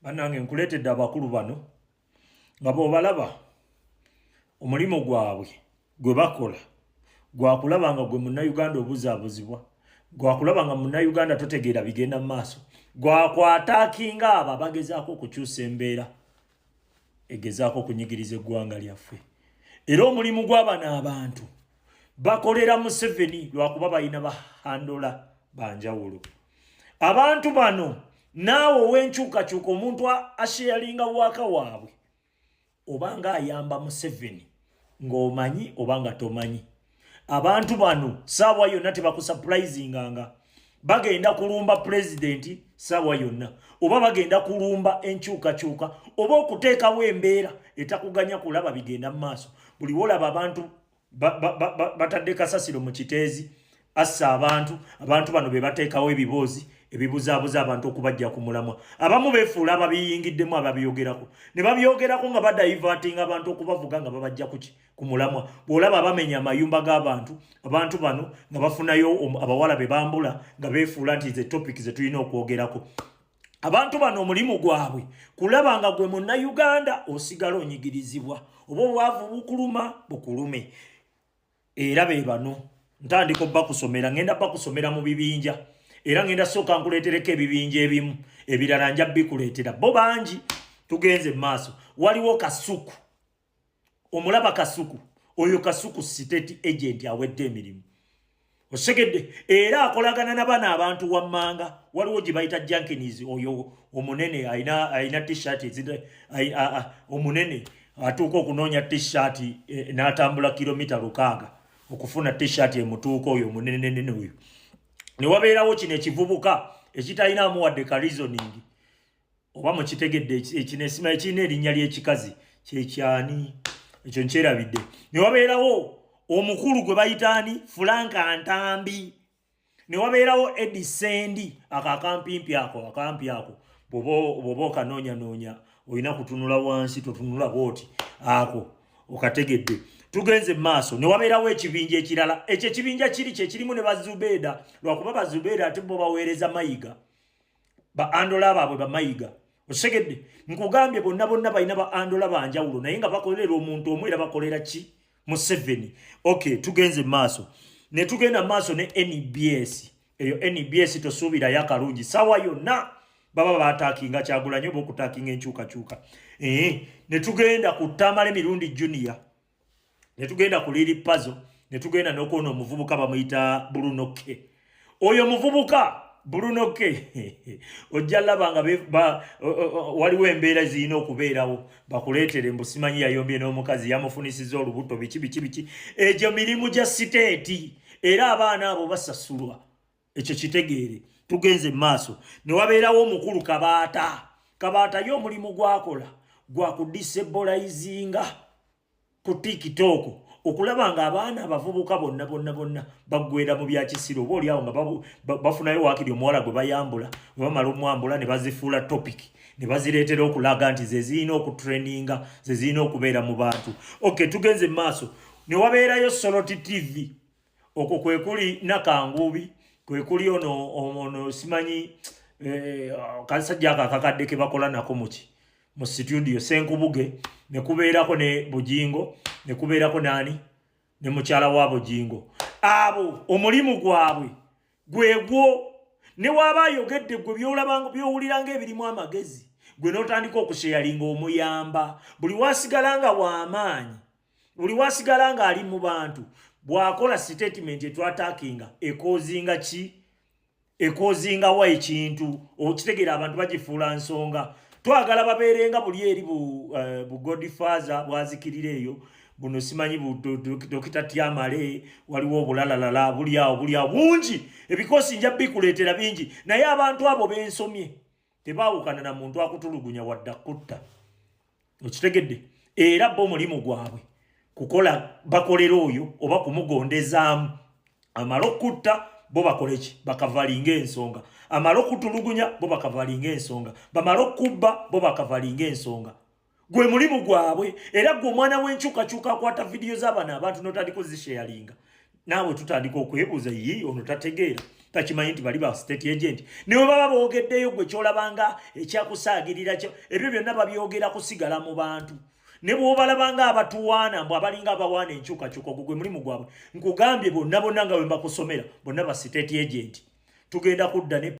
banange nkuleetedde abakulu bano nga bwobalaba omulimu gwabwe gwe bakola gwakulaba nga gwe munnayuganda obuzaabuzibwa gwakulaba nga munnayuganda totegeera bigenda mu maaso gwakwataakinga abo abagezaako okukyusa embeera egezaako okunyigiriza eggwanga lyaffe era omulimu gw'abano abantu bakolera museveni lwakuba balina bahandola banjawulo abantu bano naawe owenkyukakyuka omuntu asheyalinga waaka waabwe obanga ayamba museveni ng'omanyi obanga tomanyi abantu bano saawa yonna tebakusapulizinganga bagenda kulumba pulezidenti saawa yonna oba bagenda kulumba enkyukakyuka oba okuteekawo embeera etakuganya kulaba bigenda mu maaso buli wolaba abantu batadde kasasiro mu kiteezi assa abantu abantu bano be bateekawo ebiboozi ebibuzaabuza abantu okubajja ku mulamwa abamu befuula ababiyingiddemu ababiyogerako ne babyogerako nga badayivatinga abantu okubavuga nga babajja kuki ku mulamwa bw'olaba abamenya amayumba g'abantu abantu bano nga bafunayo abawala be bambula nga befuula nti ze topic ze tulina okwogerako abantu bano omulimu gwabwe kulaba nga gwe munnayuganda osigala onyigirizibwa oba obwavu bukuluma bukulume era be bano ntandika obba kusomera ngenda ba kusomera mu bibinja era ngenda sooka nkuleetereko ebibinja ebimu ebirala nja bikuleetera bo bangi tugenze mu maaso waliwo kasuku omulaba kasuku oyo kasuku state agent awedde emirimu osegedde era akolagana nabana abantu wammanga waliwo gye bayita jankinis oyo omunene alina tshirt omunene atuuka okunoonya tshirt eh, n'atambula kilomita lukaaga okufuna tshirt emutuuka oyo omunenenene oyo ne wabeerawo kino ekivubuka ekitalinamu wadde ka reasoning oba mukitegedde ekinesima ekirina erinnya ly'ekikazi kyekyani ekyo nkyerabidde ne wabeerawo omukulu gwe bayita ani fulanka ntambi ne wabeerawo edi sendi ako akampimpi ako akampi ako bwoba okanoonyanoonya olina kutunula wansi totunula bwoti ako okategedde tugenze maaso newabeerawo ekibinja ekirala ekyo ekibinja kiri kyekirimu ne bazubeeda lwakuba bazubeeda ate bo baweereza mayiga ba andola baabwe bamayiga osegedde nkugambye bonna bonna balina ba andola banjawulo naye nga bakolera omuntu omu era bakolera ki museveni ok tugenze maaso netugenda maaso ne nbs eyo nbs tosuubirayo akalungi sawa yonna baba batakinga kyagulanyo oba okutakinga enkyukakyuka ee netugenda ku tamale mirundi junior ne tugenda ku liri pazo ne tugenda n'okuona omuvubuka bamuyita bulunoke oyo omuvubuka bulunoke ojja laba nga waliwo embeera zirina okubeerawo bakuleetere mbu simanyi yayombye n'omukazi yamufunisiza olubuto biki biki biki egyo mirimu gya siteeti era abaana abo basasulwa ekyo kitegeere tugenze mu maaso ne wabeerawo omukulu kabaata kabaata ye omulimu gwakola gwa kudisebolayizinga ku tikitooko okulaba nga abaana abavubuka bonna bonna bonna baggwera mu bya kisiru oba olyawo nga bafunayo waakiri omuwala gwe bayambula we bamala omwambula ne bazifuula topiki ne bazireetera okulaga nti ze zirina okutraininga ze zirina okubeera mu bantu oke tugenze mu maaso ne wabeerayo soloti tivi okwo kwe kuli nakanguubi kwe kuli ono ono simanyi eh, kasajja ako akakadde ke bakola nako muki mu situdio senkubuge ne kubeerako ne bujingo ne kubeerako naani ne mukyala wa bujingo abo omulimu gwabwe gwegwo ne waaba ayogedde gwe byowulira ngaebirimu amagezi gwe notandika okusheyalinga omuyamba buli wasigala nga wamaanyi buli wasigala nga ali mu bantu bwakola statement etwatakinga ekozinga ki ekozinga wa ekintu okitegera abantu bagifuula nsonga twagala babeerenga buli eri bu, uh, bu godfather bwazikirira eyo buno simanyi dokita tyamale waliwo obulalalala buli awo buli awo bungi ebikosi nja bikuleetera bingi naye abantu abo bensomye tebaawukana na muntu akutulugunya wadde akutta okitegedde era bo mulimu gwabwe kukola bakolera oyo oba kumugondezaamu amala okutta bo bakoleki bakavalinga ensonga amala okutulugunya bo bakavalinga ensonga bamala okubba bo bakavalinga ensonga gwe mulimu gwabwe era gwe omwana w'enkyukakyuka akwata vidiyo z'abana abantu notandika ozisheyalinga naawe tutandika okwebuuza yi ono tategeera takimanyi nti bali ba state agent newe baba boogeddeyo gwe kyolabanga ekyakusaagirira kyo ebyo byonna babyogera kusigala mu bantu ne bwobalabanga abatuwaana mbu abalinga abawaana enkyukakyuka ogwo gwe mulimu gwabwe nkugambye bonna bonna nga bwe mbakusomera bonna ba state agent tugenda kudda ne